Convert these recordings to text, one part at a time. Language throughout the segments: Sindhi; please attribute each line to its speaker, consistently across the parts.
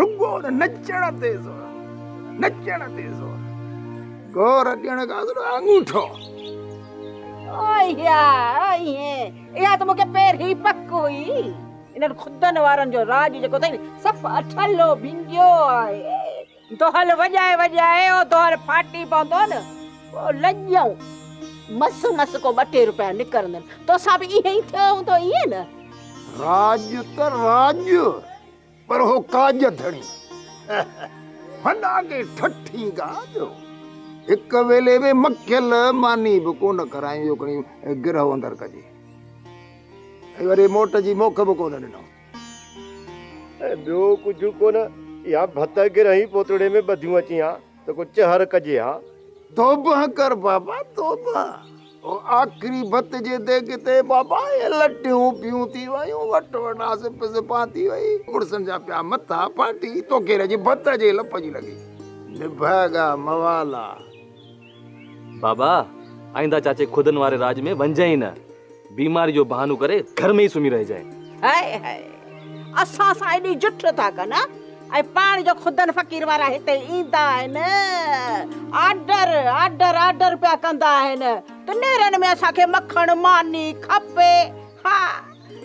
Speaker 1: رڳو ته نچڻ تي زور نچڻ تي زور گور ڏيڻ کان اڳ انگوٺو ايا
Speaker 2: ايا ايا ته مونکي پهرين پڪ هئي انهن خدن وارن جو راڄ جيڪو اٿئي صف اٺلو ڀنگيو آهي دهل وڄائي وڄائي او دهل ڦاٽي پوندو نه او لڄيون مس مس کو ٻه ٽي روپيا نڪرندن توسان به ائين ئي ٿيو هوندو ائين نه راڄ
Speaker 1: ته راڄ پر هو ڪاڄ ڌڻي هڏا ڪي ٺٺي گاج هو. هڪ ويلي به مکيل ماني به ڪونه کرايائين جو کڻي گرهه اندر ڪجي ۽ وري موٽ جي موک به ڪونه ڏنائون.
Speaker 3: ۽ ٻيو ڪجهه ڪونه، اها ڀت گرهه ئي پوتڙي ۾ ٻڌيون اچيان. ته ڪو چهر ڪجي ها. توبه ڪر
Speaker 1: بابا توبه. او آخري ڀت جي ديڳ تي بابا اهي لٽيون پيون ٿي ويون، وٽ وٽاس پس پان ٿي وئي، مڙسن جا پيا مٿا ڦاٽي، توکي رڄ ڀت جي لپ جي لڳي. نڀاڳا موالا.
Speaker 4: بابا آئنده چاچي خدن واري راڄ ۾ وڃجئين نه. بيماري جو بهانو ڪري گهر ۾ ئي سمهي رهجانء. هائي هائي!
Speaker 2: اسان سان ايڏي جٺ ٿا ڪن ها؟ ۽ پاڻ جو خدن فقير وارا هتي ايندا آهن، آرڊر، آرڊر، آرڊر پيا ڪندا آهن ته نيرن ۾ اسان کي مکڻ، ماني، کپي، ها،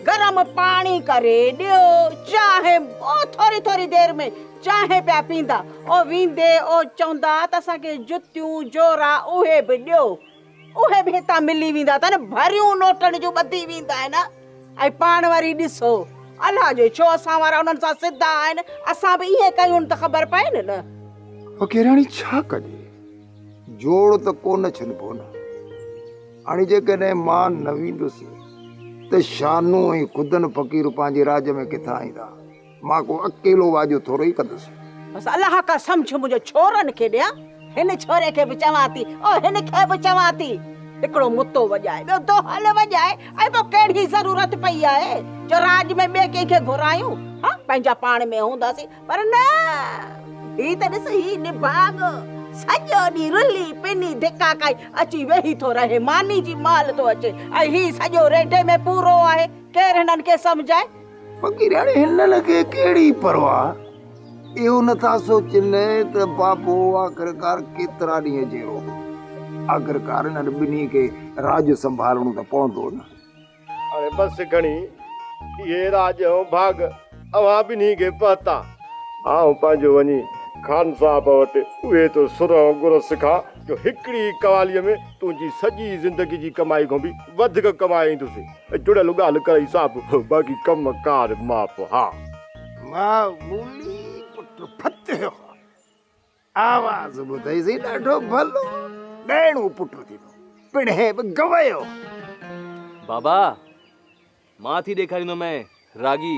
Speaker 2: گرم پاڻي ڪري ڏيو، چانهه، او ٿوري ٿوري دير ۾ چانهه پيا پيندا، او ويندي او چوندا ته اسان کي جتيون، جورا، اهي به ڏيو. اهي به هتان ملي ويندا اٿن، ڀريون نوٽن جون ٻڌي ويندا آهن ۽ پاڻ وري ڏسو الاء جو ڇو اسان وارا انهن سان سڌا آهن، اسان به ائين ڪيون ته خبر پئي نه نه. فقيراڻي
Speaker 1: ڇا ڪجي، جوڙ ته ڪو نه ڇڏبو نه. هاڻي جيڪڏهن مان نه ويندس ته شانو ۽ خدن فقير پنهنجي راڄ ۾ ڪٿان ايندا. مان ڪو اڪيلو واڄو ٿورئي ڪندس. بس الله ڪا
Speaker 2: سمجهه منهنجو ڇورن کي ڏيان. هن ڇوري کي به چوان ٿي او هن کي به چوان ٿي هڪڙو متو وڄائي ٻيو دوهل وڄائي ۽ پوء ڪهڙي ضرورت پئي آهي جو راڄ ۾ ٻئي ڪنهن کي گهرايون ها پنهنجا پاڻ ۾ هونداسين پر نه هي ته ڏس هي نڀاڳ سڄو ڏينهن رلي پني ڌڪا کائي اچي ويهي ٿو رهي ماني جي مال ٿو اچي ۽ هي سڄو ريڍي ۾ پورو آهي ڪير هنن کي سمجهائي فقيراڻي
Speaker 1: هنن کي ڪهڙي پرواهه، اهو نه ٿا سوچين ته بابو آخرڪار ڪيترا ڏينهن جيئرو هو. آخرڪار انهن ٻنهي کي راڄ سنڀالڻو ته پوندو نه. هاڻي بس
Speaker 3: گهڻي اهي راڄ ۽ ڀاڳ اوهان ٻنهي کي پهتا. آئون پنهنجو وڃي خان صاحب وٽ اهي ته سر ۽ گر سکان جو هڪڙي ئي قواليء ۾ تنهنجي سڄي زندگي جي ڪمائي کان به وڌيڪ ڪمائي ايندوسين. جڙيل ڳالهه ڪر حساب، باقي ڪم ڪار ماپ ها. معمولي
Speaker 1: پٽ فتح خان آواز ٻڌئي سين ڏاڍو ڀلو ڏائڻو پٽ ٿيندو پڻهين به گويو هو.
Speaker 4: بابا مان ٿي ڏيکاريندومين راڳي.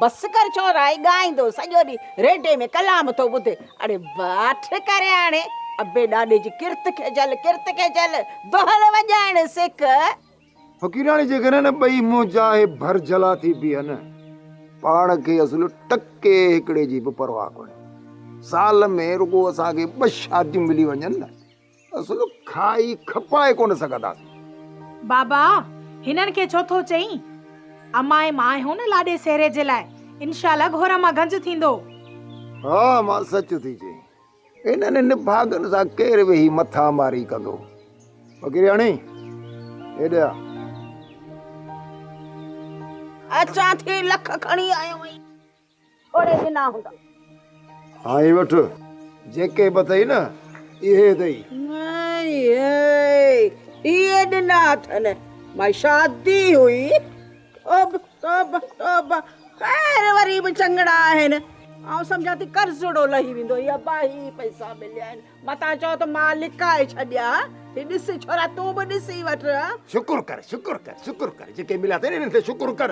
Speaker 4: بس
Speaker 2: ڪر ڇورائي ڳائيندو سڄو ڏينهن ريڊي ۾ ڪلام ٿو ٻڌ اڙي باٺ ڪري هاڻي ابي ڏاڏي جي ڪرت کي جهل ڪرت کي جهل دهل وڄائڻ سک. فقيراڻي
Speaker 1: جي گهر نه ٻئي منهن چاهي ڀر جلا ٿي بيهن. پاڻ کي اصل ٽڪي هڪڙي جي به پرواهه ڪونهي. سال ۾ رڳو اسان کي ٻه شاديون ملي وڃن نه اصل کائي کپائي ڪونه سگهنداسين. بابا
Speaker 5: هنن کي ڇو ٿو چئين؟ امائي مان آهيون نه لاڏي سهري جي لاء انشاء الله گهور مان گهنج ٿيندو. ها
Speaker 1: مان سچ ٿي چئين. انهن نڀاڳن سان ڪير ويهي مٿان ماري ڪندو. فقيرياڻي، هيڏي آ. اچان ٿي، لک
Speaker 2: کڻي آيو آهين. ٿوري ڏنا
Speaker 1: هوندا. ها هي وٺ. جيڪي به اٿئي نه، اهي اٿئي. ناهي، اهي
Speaker 2: ڏنا اٿن. مائي شادي هئي. توبه توبه توبه خير وري به چڱڙا آهن آئون سمجهان ٿي قرضڙو لهي ويندو هي ابا هي پئسا مليا آهن متان چئو ته مان لڪائي ڇڏيا هي ڏس ڇورا تون به ڏسي وٺ
Speaker 1: شڪر ڪر
Speaker 2: شڪر
Speaker 1: ڪر شڪر ڪر جيڪي
Speaker 2: مليا
Speaker 1: اٿئي انهن تي شڪر ڪر